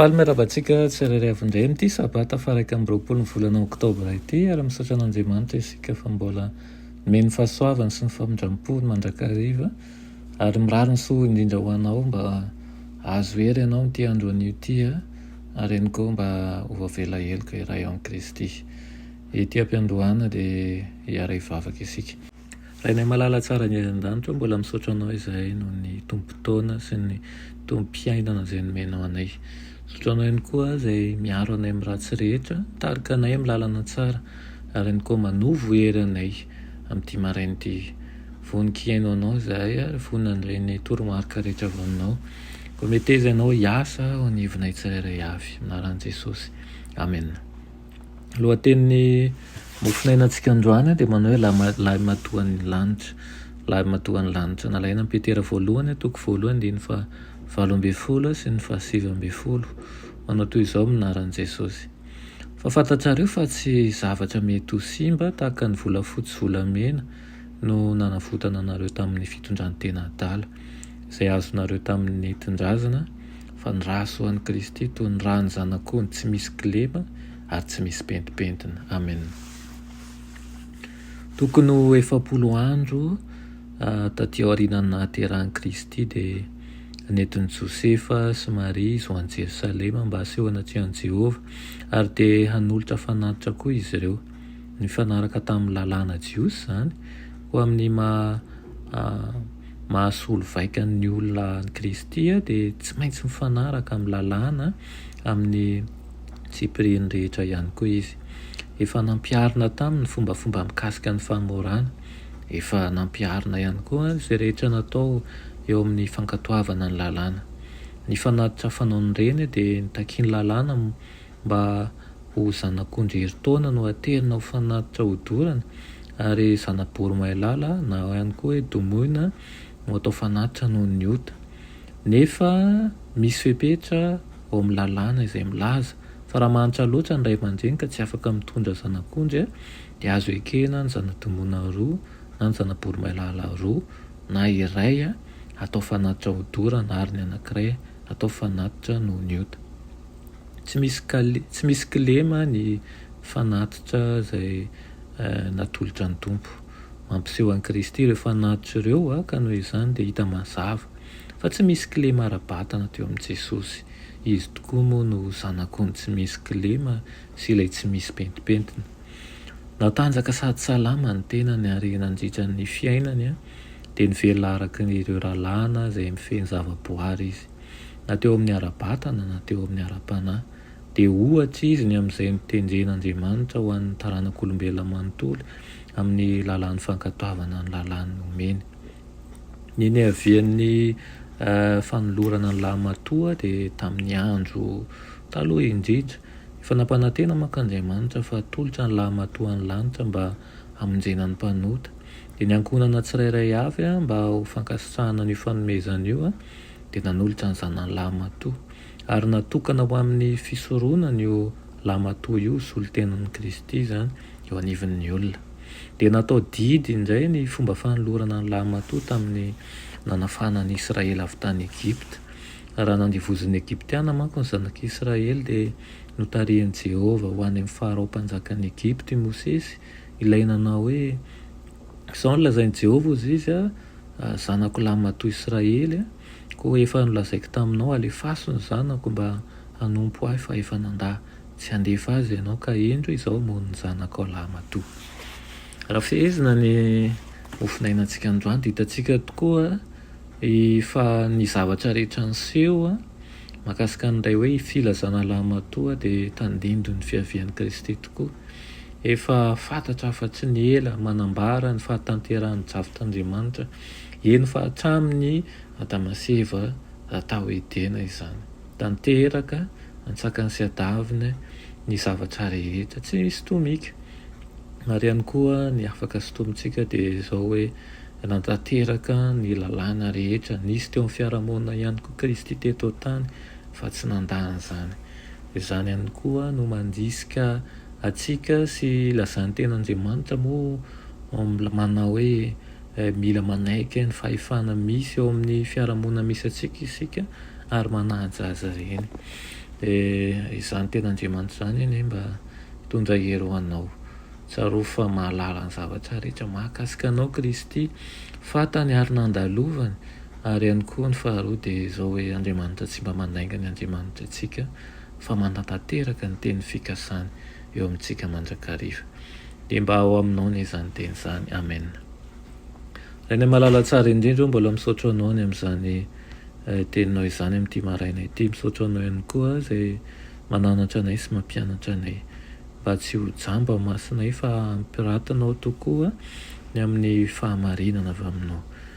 Faly miarahaba antsika tsirairay avy indray amin'ity sabata faha-iraika amby roapolo ny volana oktobra ity ary misaotra an'Andriamanitra isika fa mbola nomeny ny fahasoavany sy ny famindram-pony mandrakariva ary mirary ny soa indrindra ho anao mba hahazo hery ianao amin'ity andro anio ity ary ihany koa mba ho avela heloka iray ao amin'i Kristy. Ety am-piandohana dia hiara-hivavaka isika. Rainay malala tsara any an-danitra mbola misaotra anao izahay noho ny tompon-taona sy ny tompom-piainana izay nomenao anay. Misaotra anao ihany koa izay miaro anay amin'ny ratsy rehetra, mitarika anay amin'ny lalana tsara ary ihany koa manovo hery anay amin'ity maraina ity. Vonon-kihaino anao izahay ary vonona handray ny toromarika rehetra avy aminao. Koa meteza ianao hiasa ao anivonay tsirairay avy. Amin'ny anaran'i Jesosy. Amena. Lohatenin'ny mofonainantsika androany dia manao hoe Lahimatoan'ny lanitra, Lahimatoan'ny lanitra. Nalaina amin'i Petera voalohany, toko voalohany, andininy fahavalo ambin'ny folo sy ny fahasivy ambin'ny folo. Manao toy izao ny minaran'i Jesosy, Fa fantatrareo fa tsy zavatra mety ho simba tahaka ny volafotsy sy volamena no nanavotana anareo tamin'ny fitondran-tena adala, izay azonareo tamin'ny nentindrazana, fa ny ra soa an'i Kristy toy ny ran'ny zanak'ondry tsy misy kilema ary tsy misy pentimpentina. Amen. Tokony ho efapolo andro taty aorianan'ny nahaterahan'i Kristy dia nentin'i Josefa sy Maria izy ho any Jerosalema mba hasehona tsy an'i Jehovah ary dia hanolotra fanatitra koa izy ireo. Nifanaraka tamin'ny lalàna jiosy izany ho amin'ny maha mahasolo vaika ny olona an'i Kristy dia tsy maintsy mifanaraka amin'ny lalàna amin'ny tsipiriany rehetra ihany koa izy. Efa nampiharina taminy ny fombafomba mikasika ny famorana. Efa nampiharina ihany koa izay rehetra natao eo amin'ny fankatoavana ny lalàna. Ny fanatitra fanaon'ireny dia nitakian'ny lalàna mba ho zanak'ondry herintaona no aterina ho fanatitra hodorana, ary zana-bory mailala na ihany koa hoe domoina no atao fanatitra noho ny ota. Nefa misy fepetra ao amin'ny lalàna izay milaza fa raha mahantra loatra ny ray aman-dreny ka tsy afaka mitondra zanak'ondry dia azo ekena ny zana-domoina roa na ny zana-bory mailala roa na iray atao fanatitra hodorana ary ny anankiray atao fanatitra noho ny ota. Tsy misy kale, tsy misy kilema ny fanatitra izay natolotra ny Tompo. Mampiseho an'i Kristy ireo fanatitra ireo ka noho izany dia hita mazava fa tsy misy kilema ara-batana teo amin'i Jesosy. Izy tokoa moa no Zanak'ondry tsy misy kilema sy ilay tsy misy pentimpentina. Natanjaka sady salama ny tenany ary nandritra ny fiainany dia nivelona araka ireo rahalahina izay mifehy ny zavaboary izy. na teo amin'ny ara-batana na teo amin'ny ara-panahy, dia ohatra izy ny amin'izay notenjen'Andriamanitra ho an'ny taranak'olombelona manontolo amin'ny lalàn'ny fankatoavana ny lalàny nomeny. Ny niavian'ny fanolorana ny lahimatoa dia tamin'ny andro taloha indrindra. Efa nampanantena manko Andriamanitra fa hatolotra ny lahimatoa any lanitra mba hamonjena ny mpanota. Dia ny ankohonana tsirairay avy mba ho fankasitrahana an'io fanomezana io, dia nanolotra ny zanany lahimatoa, ary natokana ho amin'ny fisoronana io lahimatoa io, solon-tenan'i Kristy izany, eo anivon'ny olona. Dia natao didy indray ny fomba fanolorana ny lahimatoa tamin'ny nanafahana an'i Israely avy tany Egypta. Raha nandevozin'ny Egyptiana manko ny zanak'i Israely, dia notarihin'i Jehovah ho any amin'ny Farao mpanjakan'i Egypta i Mosesy, Ilay nanao hoe, Izao no lazain'i Jehovah, Hoy izy, Zanako lahy matoa Israely, koa efa nolazaiko taminao, Alefaso ny zanako mba hanompo ahy, fa efa nandà tsy handefa azy ianao, ka indro izao moa ny zanakao lahy matoa. Raha fehezina ny hovonainantsika androany, dia hitantsika tokoa fa ny zavatra rehetra niseho mahakasika an'ilay hoe filazana lahy matoa dia tandindon'ny fiavian'i Kristy tokoa. Efa fantatra fa tsy ny ela manambara ny fahatanterahan'ny drafitr'Andriamanitra, eny fa hatramin'ny Adama sy Eva tao Edena izany. Tanteraka antsakany sy adaviny ny zavatra rehetra, tsy sintomika. Ary ihany koa ny afaka sintomintsika dia izao hoe, nanatanteraka ny lalàna rehetra nisy teo amin'ny fiarahamonina ihany koa Kristy teto an-tany fa tsy nandà an'izany. Izany ihany koa no mandrisika antsika sy ilazan'ny Tenin'Andriamanitra moa manao hoe mila manaiky ny fahefana misy eo amin'ny fiarahamonina misy antsika isika ary manaja azy ireny. Dia izany Tenin'Andriamanitra izany anie mba hitondra hery ho anao. Tsarovy fa mahalala ny zavatra rehetra mahakasika anao Kristy, fantany ary nandalovany. Ary ihany koa ny faharoa dia izao hoe Andriamanitra tsy mba mandainga ny Andriamanitra ntsika fa manantanteraka ny teny fikasany eo amintsika mandrakariva. Dia mba ao aminao anie izany teny izany. Amen. Rainay malala tsara indrindra o, mbola misaotra anao ny amin'izany teninao izany amin'ity maraina ity. Misaotra anao ihany koa izay mananatra anay sy mampianatra anay mba tsy ho jamba ao masonay fa hampiratinao tokoa ny amin'ny fahamarinana avy aminao.